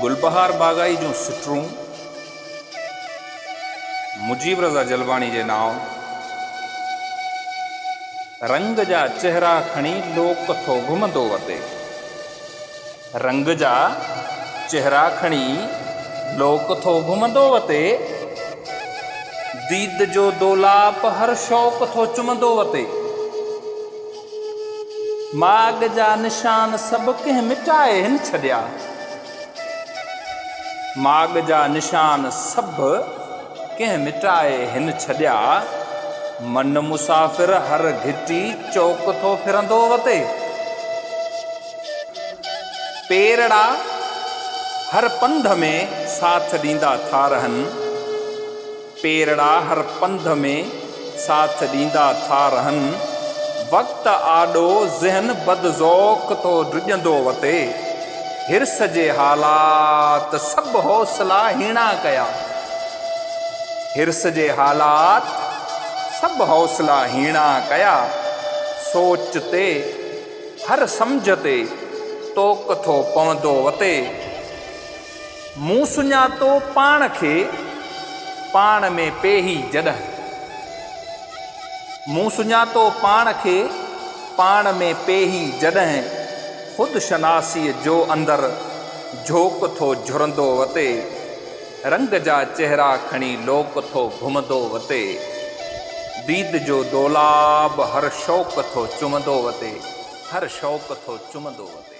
گلبهار باغائي جون سٽرون مجيب رضا جلباڻي جي نانء رنگ جا چهرا کڻي لوڪ ٿو گهمندو وتي. رنگ جا چهرا کڻي لوڪ ٿو گهمندو وتي، ديد جو دولاپ هر شوق ٿو چمندو وتي، ماڳ جا نشان سڀ ڪنهن مٽائي هن ڇڏيا، ماڳ جا نشان سڀ ڪنهن مٽائي هن ڇڏيا، من مسافر هر گهٽي چوڪ ٿو ڦرندو وتي. پيرڙا هر پنڌ ۾ ساٿ ڏيندا ٿا رهن پيرڙا هر پنڌ ۾ ساٿ ڏيندا ٿا رهن وقت آڏو ذهن بد ذوق ٿو ڊڄندو وتي حرص جي حالات سڀ حوصلا هيڻا ڪيا حرص جي حالات سڀ حوصلا هيڻا ڪيا سوچ تي هر سمجهه تي طوق ٿو پوندو وتي. مون سڃاتو پاڻ کي پاڻ ۾ پيهي جڏهن. مون سڃاتو پاڻ کي پاڻ ۾ پيهي جڏهن. خود شناسيء جو اندر جهوڪ ٿو جهرندو وتي. رنگ جا چهرا کڻي لوڪ ٿو گهمندو وتي ديد جو دولاب هر شوق ٿو چمندو وتي هر شوق ٿو چمندو وتي.